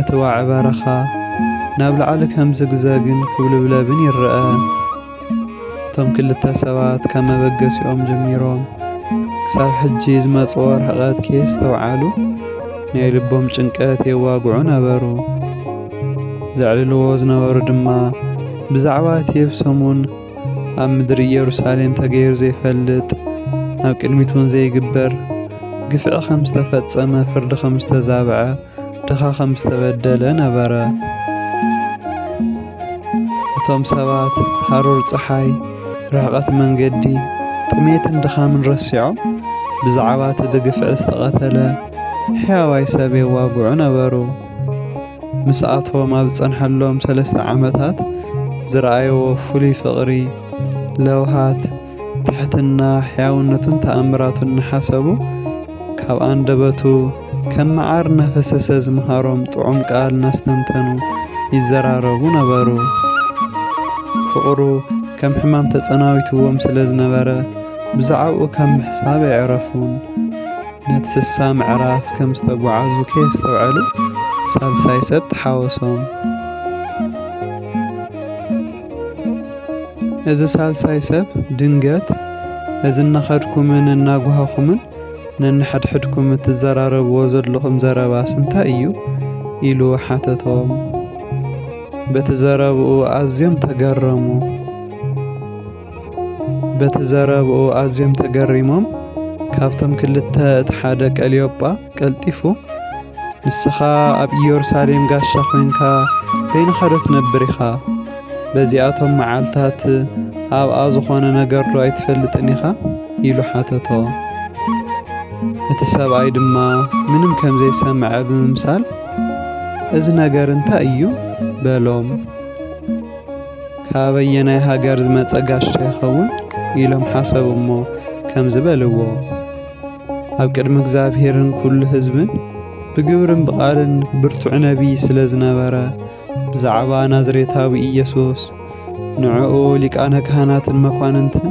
እቲ ዋዒ በረኻ ናብ ላዕሊ ከም ዝግዘግን ክብልብለብን ይረኣ። እቶም ክልተ ሰባት ካብ መበገሲኦም ጀሚሮም ክሳብ ሕጂ ዝመጽዎ ርሕቐት ከየስተውዓሉ ናይ ልቦም ጭንቀት የዋግዑ ነበሩ። ዘዕልልዎ ዝነበሩ ድማ ብዛዕባ እቲ የብሰሙን ኣብ ምድሪ ኢየሩሳሌም ተገይሩ ዘይፈልጥ ናብ ቅድሚት እውን ዘይግበር ግፍዒ ከም ዝተፈጸመ ፍርዲ ከም ዝተዛብዐ ድኻ ከም ዝተበደለ ነበረ እቶም ሰባት ሃሩር ፀሓይ ርሕቐት መንገዲ ጥሜትን ድኻምን ረሲዖም ብዛዕባ እቲ ብግፍዒ ዝተቐተለ ሕያዋይ ሰብ የዋግዑ ነበሩ ምስኣቶም ኣብ ዝጸንሐሎም ሰለስተ ዓመታት ዝረኣይዎ ፍሉይ ፍቕሪ፣ ለውሃት፣ ትሕትና፣ ሕያውነቱን ተኣምራቱን እናሓሰቡ ካብ ኣንደበቱ ከም መዓር እናፈሰሰ ዝመሃሮም ጥዑም ቃል እናስተንተኑ ይዘራረቡ ነበሩ። ፍቕሩ ከም ሕማም ተጸናዊትዎም ስለ ዝነበረ ብዛዕባኡ ካብ ምሕሳብ ኣይዕረፉን። ነቲ ስሳ ምዕራፍ ከም ዝተጓዓዙ ከየስተውዐሉ ሳልሳይ ሰብ ተሓወሶም። እዚ ሳልሳይ ሰብ ድንገት እዚ እናኸድኩምን እናጓሃኹምን ነንሕድሕድኩም እትዘራረብዎ ዘለኹም ዘረባስ እንታይ እዩ? ኢሉ ሓተቶም። በቲ ዘረብኡ ኣዝዮም ተገረሙ። በቲ ዘረብኡ ኣዝዮም ተገሪሞም ካብቶም ክልተ እቲ ሓደ ቀልዮጳ ቀልጢፉ ንስኻ ኣብ ኢየሩሳሌም ጋሻ ዄንካ በይንኻ ዶ ትነብር ኢኻ? በዚኣቶም መዓልታት ኣብኣ ዝኾነ ነገር ዶ ኣይትፈልጥን ኢኻ? ኢሉ ሓተቶ። እቲ ሰብኣይ ድማ ምንም ከም ዘይሰምዐ ብምምሳል እዚ ነገር እንታይ እዩ? በሎም። ካበየናይ ሃገር ዝመጸ ጋሻ ይኸውን? ኢሎም ሓሰቡ እሞ ከምዚ በልዎ፣ ኣብ ቅድሚ እግዚኣብሔርን ኩሉ ህዝብን ብግብርን ብቓልን ብርቱዕ ነቢይ ስለ ዝነበረ ብዛዕባ ናዝሬታዊ ኢየሱስ ንዕኡ ሊቃነ ካህናትን መኳንንትን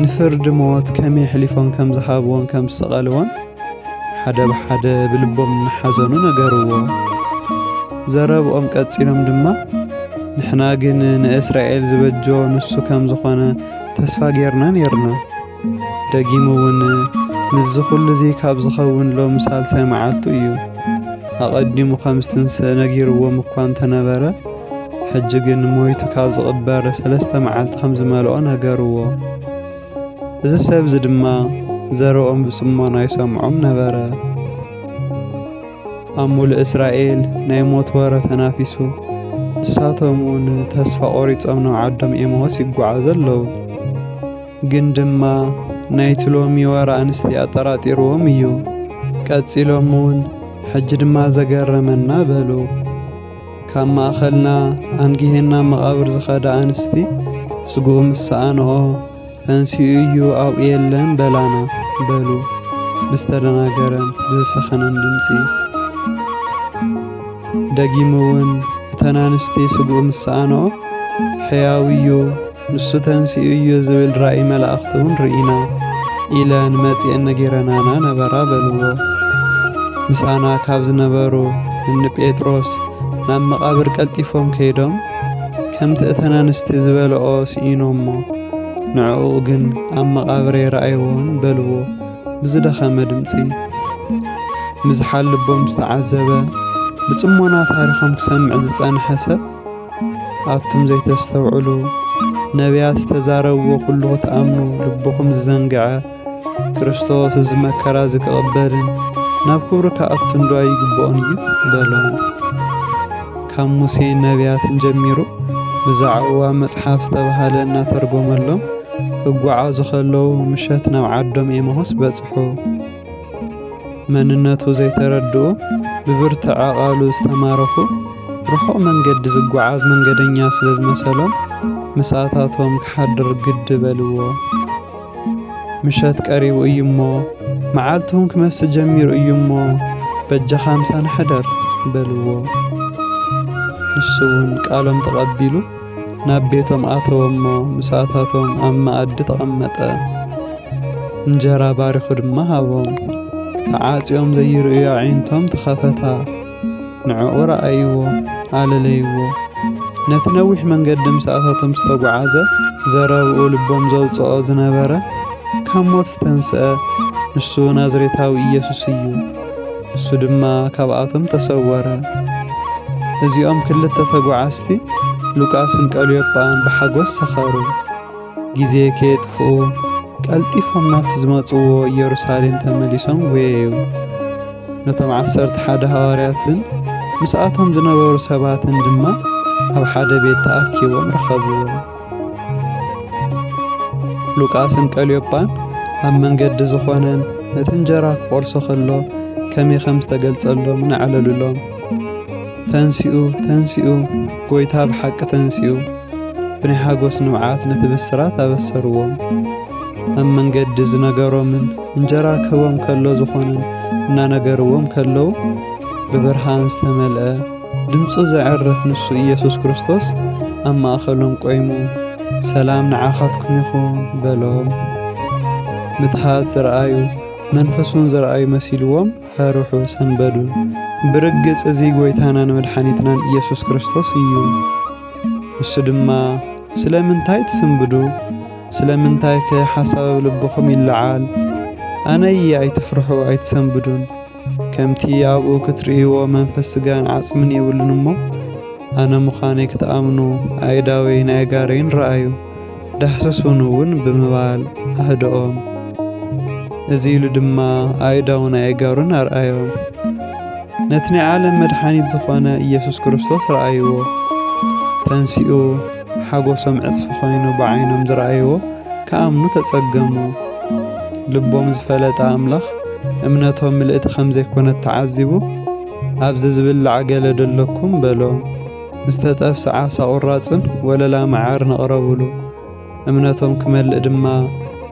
ንፍርዲ ሞት ከመይ ኣሕሊፎም ከም ዝሃብዎን ከም ዝሰቐልዎን ሓደ ብሓደ ብልቦም እናሓዘኑ ነገርዎ። ዘረብኦም ቀጺሎም ድማ ንሕና ግን ንእስራኤል ዝበጆ ንሱ ከም ዝኾነ ተስፋ ጌርና ኔርና። ደጊሙ እውን ምስዚ ኹሉ እዚ ካብ ዝኸውን ሎሚ ሳልሳይ መዓልቱ እዩ። ኣቐዲሙ ከም ዝትንስእ ነጊርዎም እኳ እንተነበረ ሕጂ ግን ሞይቱ ካብ ዝቕበር ሰለስተ መዓልቲ ከም ዝመልኦ ነገርዎ። እዚ ሰብ እዚ ድማ ዘረኦም ብጽሞና ይሰምዖም ነበረ። ኣብ ሙሉእ እስራኤል ናይ ሞት ወረ ተናፊሱ፣ ንሳቶም እውን ተስፋ ቆሪጾም ናብ ዓዶም ኤማዎስ ይጓዓዙ ኣለዉ። ግን ድማ ናይቲ ሎሚ ወረ ኣንስቲ ኣጠራጢርዎም እዩ። ቀጺሎም እውን ሕጂ ድማ ዘገረመና በሉ። ካብ ማእኸልና ኣንጊሄና መቓብር ዝኸዳ ኣንስቲ ስግኡ ምስ ሰኣንኦ ተንሲኡ እዩ ኣብኡ የለን በላና በሉ ብዝተደናገረን ብዝሰኸነን ድምፂ። ደጊሙ እውን እተን ኣንስቲ ስግኡ ምስ ሰኣንኦ ሕያው እዩ ንሱ ተንሲኡ እዩ ዝብል ራእይ መላእኽቲ እውን ርኢና ኢለን መጺኤን ነጊረናና ነበራ በልዎ። ምሳና ካብ ዝነበሩ እኒ ጴጥሮስ ናብ መቓብር ቀልጢፎም ከይዶም ከምቲ እተን ኣንስቲ ዝበልኦ ስኢኖሞ ንዕኡ ግን ኣብ መቓብር ኣይረኣይዎን በልዎ ብዝደኸመ ድምፂ። ምዝሓል ልቦም ዝተዓዘበ ብጽሞና ታሪኾም ክሰምዕ ዝጸንሐ ሰብ ኣቱም ዘይተስተውዕሉ፣ ነቢያት ዝተዛረብዎ ኩሉ ክትኣምኑ ልብኹም ዝዘንግዐ፣ ክርስቶስ እዚ መከራ እዚ ክቕበልን ናብ ክብሩ ክኣቱንዶ ኣይግብኦን እዩ? በሎም። ካብ ሙሴን ነቢያትን ጀሚሩ ብዛዕባ መጽሓፍ ዝተባህለ እናተርጎመሎም ክጓዓዙ ከለዉ ምሸት ናብ ዓዶም ኤማሁስ በጽሑ። መንነቱ ዘይተረድኡ ብብርትዐ ቃሉ ዝተማረኹ ርሑቕ መንገዲ ዝጓዓዝ መንገደኛ ስለ ዝመሰሎም ምስኣታቶም ክሓድር ግዲ በልዎ። ምሸት ቀሪቡ እዩ እሞ መዓልቲ እውን ክመስእ ጀሚሩ እዩ እሞ በጃኻ ምሳና ሕደር በልዎ። ንሱ እውን ቃሎም ተቐቢሉ ናብ ቤቶም ኣተወ እሞ ምሳታቶም ኣብ መኣዲ ተቐመጠ። እንጀራ ባሪኹ ድማ ሃቦም። ተዓጽዮም ዘይርእዩ ኣዒንቶም ተኸፈታ። ንዕኡ ረኣይዎ፣ ኣለለይዎ። ነቲ ነዊሕ መንገዲ ምሳታቶም ዝተጓዓዘ ዘረብኡ ልቦም ዘውጽኦ ዝነበረ ካብ ሞት ዝተንስአ ንሱ ናዝሬታዊ ኢየሱስ እዩ። እሱ ድማ ካብኣቶም ተሰወረ። እዚኦም ክልተ ተጓዓዝቲ ሉቃስን ቀልዮጳን ብሓጎስ ሰኸሩ። ግዜ ከየጥፍኡ ቀልጢፎም ናብቲ ዝመጽዎ ኢየሩሳሌም ተመሊሶም ጐየዩ። ነቶም ዓሰርተ ሓደ ሃዋርያትን ምስኣቶም ዝነበሩ ሰባትን ድማ ኣብ ሓደ ቤት ተኣኪቦም ረኸብዎም። ሉቃስን ቀልዮጳን ኣብ መንገዲ ዝኾነን ነቲ እንጀራ ክቖርሶ ከሎ ከመይ ከም ዝተገልጸሎም ንኣዕለሉሎም። ተንሲኡ ተንሲኡ ጎይታ ብሓቂ ተንሲኡ ብናይ ሓጎስ ንብዓት ነቲ ብስራት ኣበሰርዎም። ኣብ መንገዲ ዝነገሮምን እንጀራ ክህቦም ከሎ ዝኾነን እናነገርዎም ከለዉ ብብርሃን ዝተመልአ ድምጹ ዘዕርፍ ንሱ ኢየሱስ ክርስቶስ ኣብ ማእኸሎም ቆይሙ ሰላም ንዓኻትኩም ይኹን በሎም። ምትሃት ዝረኣዩ መንፈሱን ዝረኣዩ መሲልዎም ፈርሑ ሰንበዱ። ብርግጽ እዚ ጐይታናን መድሓኒትናን ኢየሱስ ክርስቶስ እዩ። እሱ ድማ ስለምንታይ ትስንብዱ? ስለምንታይከ ሓሳብ ኣብ ልብኹም ይለዓል? ኣነ እየ ኣይትፍርሑ ኣይትሰንብዱን። ከምቲ ኣብኡ ክትርእይዎ መንፈስ ስጋን ዓጽምን የብሉን እሞ ኣነ ምዃነይ ክትኣምኑ ኣእዳወይን ኣእጋረይን ረኣዩ ዳህሰሱን እውን ብምባል ኣህደኦም። እዚ ኢሉ ድማ ኣእዳውን ኣእጋሩን ኣርኣዮም። ነቲ ናይ ዓለም መድሓኒት ዝኾነ ኢየሱስ ክርስቶስ ረኣይዎ። ተንሲኡ ሓጎሶም ዕጽፊ ኮይኑ ብዓይኖም ዝረኣይዎ ክኣምኑ ተጸገሙ። ልቦም ዝፈለጠ ኣምላኽ እምነቶም ምልእቲ ከም ዘይኮነት ተዓዚቡ ኣብዚ ዝብላዕ ገለ ደለኩም በሎ። ዝተጠብሰ ዓሳ ቁራጽን ወለላ መዓርን ኣቕረብሉ። እምነቶም ክመልእ ድማ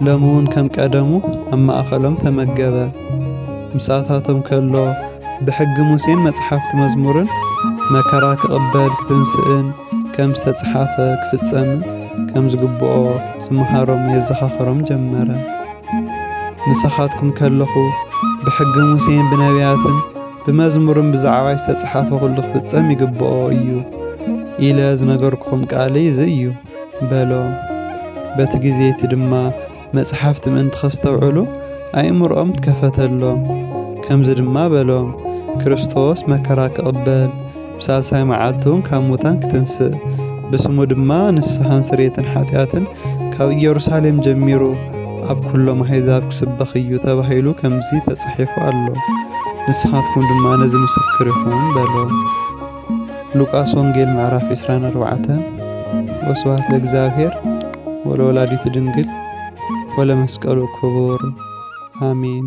ሎሚውን ከም ቀደሙ ኣብ ማእኸሎም ተመገበ። ምሳታቶም ከሎ ብሕጊ ሙሴን መጽሓፍቲ መዝሙርን መከራ ክቕበል ክትንስእን ከም ዝተጽሓፈ ክፍጸምን ከም ዝግብኦ ዝመሃሮም የዘኻኸሮም ጀመረ። ምሳኻትኩም ከለኹ ብሕጊ ሙሴን ብነቢያትን ብመዝሙርን ብዛዕባይ ዝተጽሓፈ ዅሉ ክፍጸም ይግብኦ እዩ ኢለ ዝነገርኩኹም ቃለይ እዚ እዩ። በሎ። በቲ ግዜ'ቲ ድማ መጽሓፍቲ ምእንቲ ኼስተውዕሉ ኣእምሮኦም ትከፈተሎም። ከምዚ ድማ በሎም፣ ክርስቶስ መከራ ኪቕበል፣ ብሳልሳይ መዓልቲውን ካብ ሙታን ኪትንስእ፣ ብስሙ ድማ ንስሓን ስርየትን ሓጢኣትን ካብ ኢየሩሳሌም ጀሚሩ ኣብ ኵሎም ኣህዛብ ኪስበኽ እዩ ተባሂሉ ከምዚ ተጻሒፉ ኣሎ። ንስኻትኩም ድማ ነዚ ምስክር ኢኹም በሎም። ሉቃስ ወንጌል ምዕራፍ ዕስራን ኣርባዕተን ወስብሐት ለእግዚኣብሔር ወለወላዲቱ ድንግል ወለመስቀሉ ክቡር ኣሜን።